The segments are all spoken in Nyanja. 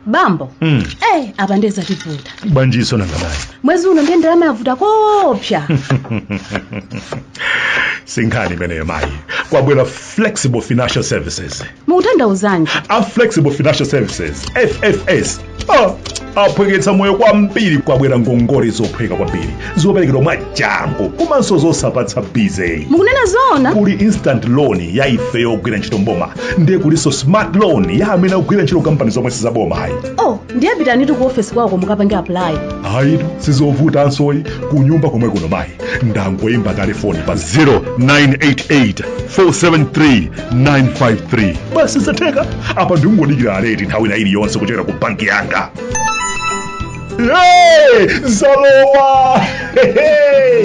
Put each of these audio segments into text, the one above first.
bambo Mm. eh apa ndiye zativuta banji so nanga bayi mwezi uno ndiye ndalama yavuta koopsa si nkhani imeneyo mayi kwabwera flexible financial services mukutanthauzanji a flexible financial services ffs Ah, aphweketsa moyo kwambiri kwabwera ngongole zophweka kwambiri zoperekedwa mwachangu komanso zosapatsa busy mukunena zoona kuli instant loan ya ife ogwira ntchito mboma ndiye kulinso smart loan ya amene akugwira ntchito kampani zomwe sizaboma ayi oh ndiye pitanitu ku ofesi kwawoko mukapange apply ayitu sizovutansoyi kunyumba komwe kuno mayi ndangoyimba kale foni pa 0988 473 953 basi zatheka apa ndingodikira alert nthawi ina iliyonse kuchokera ku banki yanga Hey, zalowa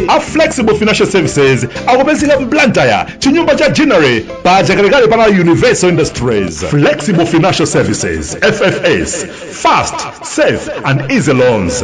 a flexible financial services akupezeka mblantyre ku Ginnery Corner pa chakalekale pana universal industries flexible financial services ffs fast safe and easy loans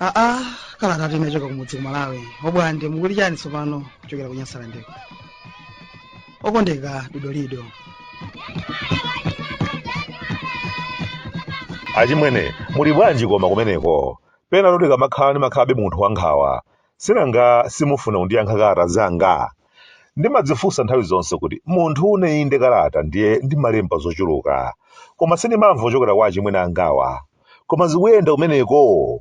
aa kalata inachoka kumudzi ku malawi obwande mukuli chani tsopano kuchokera ku nyasalandeko okondeka dodolido achimwene muli bwanji koma kumeneko penapake mumakhala ndi makhabe munthu wankhawa sinanga simufuna kundiyankha kalata zanga ndimadzifunsa nthawi zonse kuti munthu une inde kalata ndiye ndimalemba zochuluka koma sindimamva kuchokera kwa achimwene angawa koma zikuyenda kumeneko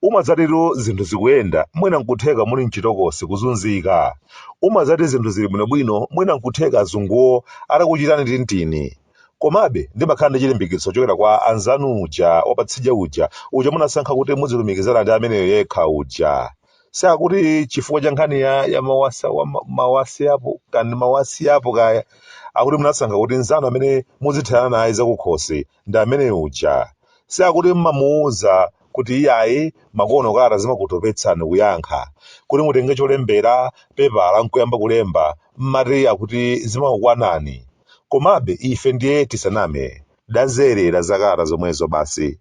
umazatitu zinthu zikuyenda mwina nkutheka muli mchitokosi kuzunzika umazati zinthu zili bwinobwino mwina nkutheka azunguwo adakuchitani tintini komabe ndimakhala ndi chilimbikitso chochokera kwa anzanu uja wapatsidya uja uja munasankha kuti muzilumikizana ndi ameneyo yekha uja si akuti chifukwa cha nkhani ya, ya mawasa, wa ma- mawasi apo kandi mawasi apo kaya akuti munasankha kuti nzanu amene muzitherana naye zakukhosi ndi amene uja. Si akuti m'mamuuza kuti iyayi makono kalata zimakutopetsani kuyankha. Kuti mutenge cholembera, pepala n'kuyamba kulemba, m'mati akuti zimakukwanani. Komabe ife ndiye tisaname, tazolowera zakalata zomwezo basi.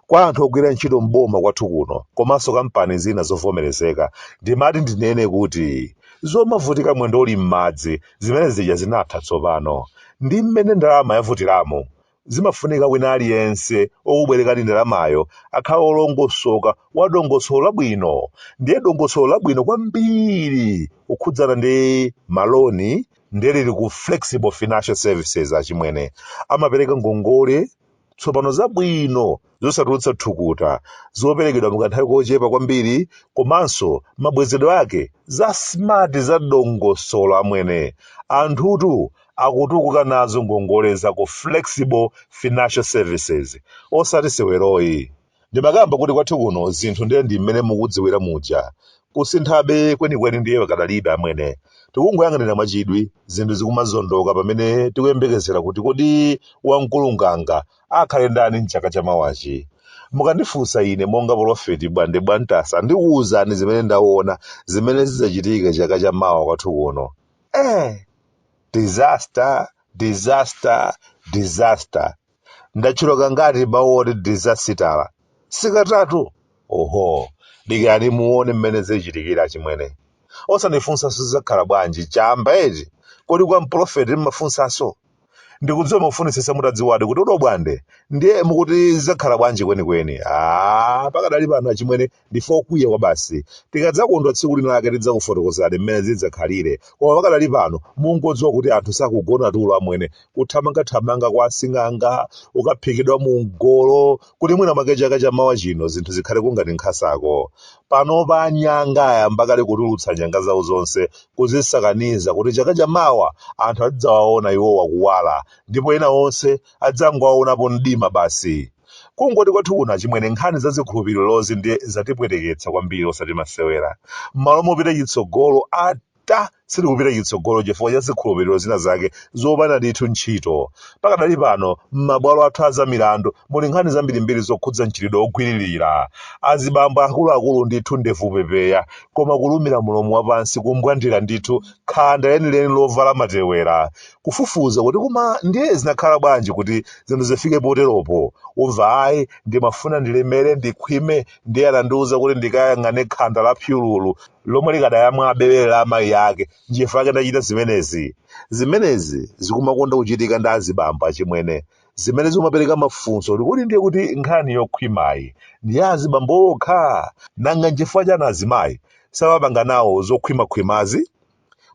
Kwa anthu ogwira ntchito m'boma kwathu kuno komanso kampani zina zovomerezeka, ndimati ndinene kuti zomavutika mwendo uli m'madzi zimene zija zinatha tsopano ndi mmene ndalama yavutiramu zimafunika wina aliyense okubwerekani ndalamayo akhale olongosoka wa dongosolo labwino ndiye dongosolo labwino kwambiri kukhudzana ndi maloni ndiye lili ku flexible financial services achimwene amapereka ngongole tsopano zabwino zosatulutsa thukuta zoperekedwa mukanthawi kochepa kwambiri komanso mabwezedwe ake za smart za dongosolo amwene anthutu akutukuka nazo ngongole za ku flexible financial services osati seweroyi Ndimakamba kuti kwathu kuno zinthu ndiye ndi mmene mukudziwira muja. Kusinthabe kwenikweni ndiye pakadalibe amwene. Tikungoyang'anira mwachidwi zinthu zikumazondoka pamene tikuyembekezera kuti kodi wamkulu nganga akhale ndani m'chaka chamawachi. Mukandifunsa ine monga polofeti Bwande Bwantasa ndikuuzani zimene ndaona zimene zidzachitike chaka chamawa kwathu kuno. Eh! Disaster, disaster, disaster. ndatchula kangati mawu oti disasitala? Si katatu? Oho, dikirani muone mmene zichitikire achimwene. Osandifunsanso zidzakhala bwanji, chamba eti? Kodi kwa mpulofeti m'mafunsanso? Ndikudziwa mukufunitsitsa mutadziwadi kuti a Dobwande, ndiye mukuti zidzakhala bwanji kwenikweni? Aaa, pakadali pano achimwene Ndife okwiya kwabasi. Tikadzakondwa tsiku lina lake tidzakufotokozerani mmene zidzakhalire. Koma pakadali pano mungodziwa kuti anthu sakugona tulo amwene. Kuthamangathamanga kwa asing'anga, kukaphikidwa mu mgolo, kuti mwina mwake chaka cha mawa chino zinthu zikhale kungati nkhasako. Panopa anyanga ayamba kale kutulutsa nyanga zawo zonse, kuzisakaniza kuti chaka cha mawa anthu azidzawaona iwowa kuwala, ndipo ena onse adzangowaonapo mdima basi. Kungoti kwathu kuno achimwene nkhani za zikhulupirirozi ndiye zatipweteketsa kwambiri osati masewera. M'malo mopita chitsogolo ata sitikupita chitsogolo chifukwa cha zikhulupiriro zina zake zopanda ndithu ntchito. Pakadali pano m'mabwalo athu a zamilandu muli nkhani zambirimbiri zokhudza mchitidwe wogwiririra azibambo akuluakulu ndithu ndevu pepeya koma kulumira mlomo wapansi kumbwandira ndithu khanda lenileni lovala matewera kufufuza kuti koma ndiye zinakhala bwanji kuti zinthu zifike poteropo umva ayi ndimafuna ndilemere ndikhwime ndiye anandiwuza kuti ndikayang'ane khanda la phyululu lomwe likadayamwa bere la amayi ake nchifukwa ake ndachita zimenezi zimenezi zikumakonda kuchitika ndi azibambo achimwene zimene zimapereka mafunso kuti kodi ndiye kuti nkhani yokhwimayi ndi ya azibambo okha nanga nchifukwa chani azimayi samapanga nawo zokhwimakhwimazi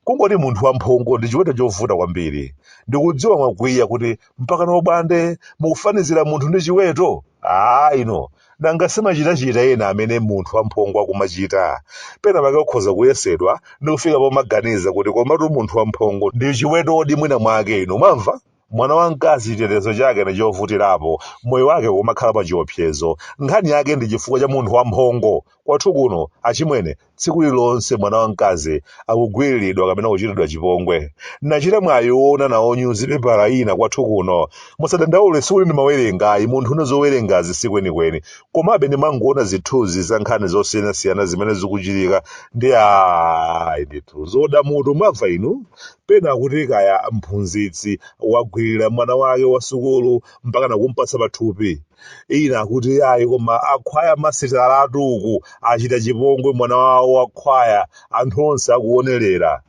Kungoti munthu wamphongo ndi chiweto chovuta kwambiri. Ndikudziwa mwakwiya kuti mpakana a Bwande mukufanizira munthu ndi chiweto? Aaa inu, nanga si machitachita ena amene munthu wamphongo akumachita? Penapake ukhoza kuyesedwa ndi kufika pomaganiza kuti komatu munthu wamphongo ndi chiwetodi mwinamwake inu, mwamva? mwana wamkazi chitetezo chake ndi chovutirapo moyo wake ukumakhala pa chiopsezo nkhani yake ndi chifukwa cha munthu wamphongo kwathu kuno achimwene tsiku lililonse mwana wamkazi akugwiriridwa kapena kuchitidwa chipongwe nachita mwayi woona nawo nyuzipepala ina kwathu kuno musadandaule sikuti ndimawerenga ayi munthu une zowerengazi si kwenikweni komabe ndimangoona zithunzi za nkhani zosiyanasiyana zimene zikuchitika ndi ayi ndithu zoda mutu mwamva inu Pena akuti kaya mphunzitsi wagwililira mwana wake wa sukulu mpakana kumpatsa pathupi. Ina akuti ayi koma akhwaya masitalatu uku achita chipongwe mwana wawo wa khwaya anthu onse akuonelera.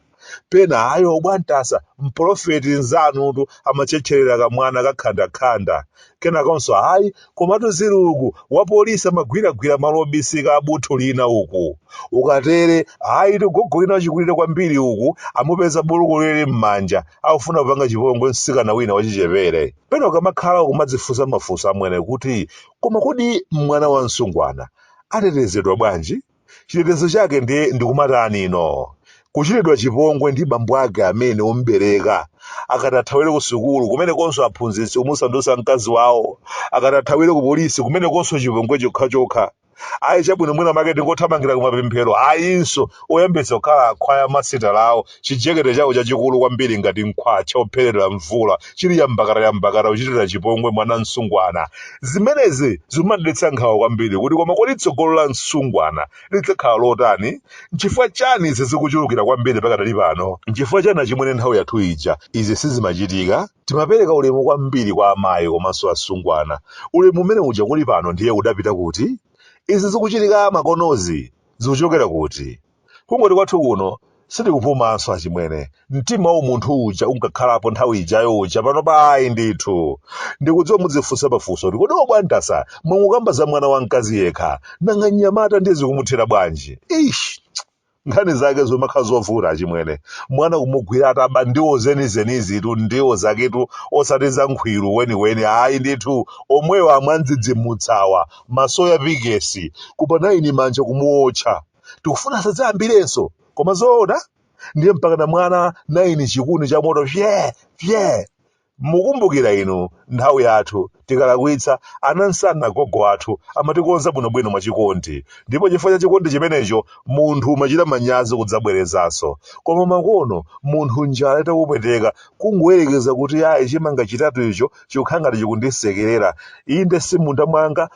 Pena ayi obwantasa mpolofeti nzanutu amatchetcherera kamwana ka khandakhanda. Kenakonso ayi Komatu zili uku, wapolisi amagwiragwira malo obisika a buthu lina uku. Ukatere, ayitu gogo wina wachikulire kwambiri uku amupeza buluku lili m'manja, akufuna kupanga chipongwe mtsikana wina wachichepere. Pena ukamakhala ukumadzifunsa mafunso amwene kuti, koma kodi mwana wa msungwana atetezedwa bwanji? chitetezo chake ndiye ndikumatani ino kuchitidwa chipongwe ndi bambo ake amene ombereka akati athawire ku sukulu kumenekonso aphunzitsi kumusandutsa mkazi wawo akati athawire ku polisi kumenekonso chipongwe chokhachokha ayi chabwino mwina mwake ndingothamangira kumapemphero ayinso oyambitsa kukhala akhwaya masitala awo Chijekete chawo chachikulu kwambiri ngati mkhwatcha wopherera mvula chili yambakatayambakata kuchitira chipongwe mwana msungwana. Zimenezi zikumandidetsa nkhawa kwambiri kuti koma kodi tsogolo la msungwana lidzakhala lotani? N'chifukwa chani izi zikuchulukira kwambiri pakadali pano? N'chifukwa chani achimwene nthawi yathu ija izi sizimachitika? Timapereka ulemu kwambiri kwa amayi komanso asungwana. Ulemu umene uja kuli pano ndiye udapita kuti? Izi zikuchitika makonozi zikuchokera kuti? Kungoti kwathu kuno sitikupumanso achimwene. Mtima waumunthu uja unkakhalapo nthawi ijayo uja panopa ayi ndithu. Ndikudziwa mudzifunsa mafunso kuti kodi obwantasa mwangokamba za mwana wamkazi yekha, nanga mnyamata ndiye zikumuthera bwanji? Eish! Nkhani zake zomakhala zovuta achimwene. Mwana kumugwira ataba ndiwo zenizenizitu ndiwo zaketu osati za nkhwiru weniweni ayi ndithu. Omwewa amwandidzidzimutsawa, masoya pikesi, kupa naini manja kumuotcha. tikufuna asadzayambirenso koma zoona ndiye mpakana mwana naini chikuni cha moto fye fye mukumbukira inu nthawi yathu tikalakwitsa anansana gogo athu amatikonza bwinobwino mwachikondi ndipo chifukwa cha chikondi chimenecho munthu umachita manyazi kudzabwerezanso koma makono munthu njala itakupweteka kungoyerekeza kuti ayi chimanga chitatu icho chikukhala ngati chikundisekerera inde si mmunda mwanga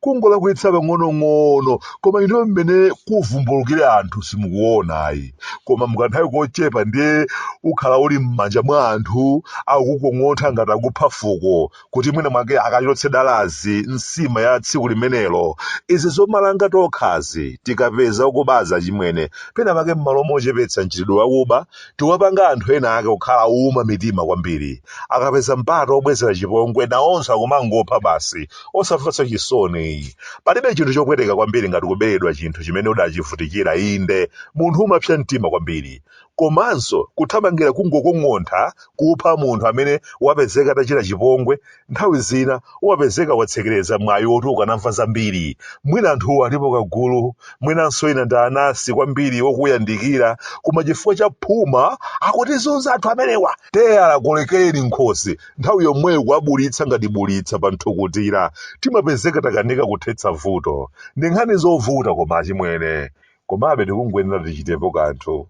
kungolakwitsa pang'onong'ono koma ino mmene kuvumbulukire anthu simukuona ayi koma mukanthawi kochepa ndiye ukhala uli m'manja mwa anthu akukukong'ontha ngati akupha fuko kuti mwina mwake akachotse dalazi nsima ya tsiku limenelo izi zomalanga tokha tikapeza okubawa chimwene pena pake m'malo mochepetsa mchitidwe wakuba Tikuwapanga anthu ena ake kukhala ouma mitima kwambiri. Akapeza mpata wobwezera chipongwe, nawonso akumangopha basi, osamvanso chisoni. Palibe chinthu chopweteka kwambiri ngati kuberedwa chinthu chimene udachivutikira, inde, munthu umapsa mtima kwambiri. Komanso, kuthamangira kungokong'ontha kupha munthu amene wapezeka atachita chipongwe Nthawi zina umapezeka watsekereza mwayi woti ukanamva zambiri. Mwina anthuwo alipo kagulu, mwinanso ena ndi anansi kwambiri okuyandikira, koma chifukwa cha phuma akutizunza anthu amenewa! Teyala kolekeni nkhosi, nthawi yomweyo kuwabulitsa ngati bulitsa pa nthukutira. Timapezeka takanika kuthetsa vuto. Ndi nkhani zovuta koma achimwene. Komabe tikungoyenera tichitepo kanthu.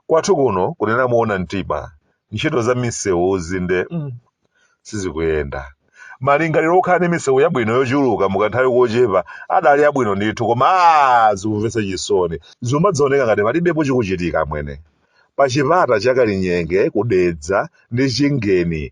Kwathu kuno kunena moona mtima, ntchito za misewuzi nde mm, sizikuyenda. Malingaliro okhala ndi misewu yabwino yochuluka mu kanthawi kochepa adali abwino ndithu koma aah zikumvetsa chisoni. Zikumadzaoneka ngati palibepo chikuchitika amwene. Pa chipata cha Kalinyenge ku Dedza ndi Chingeni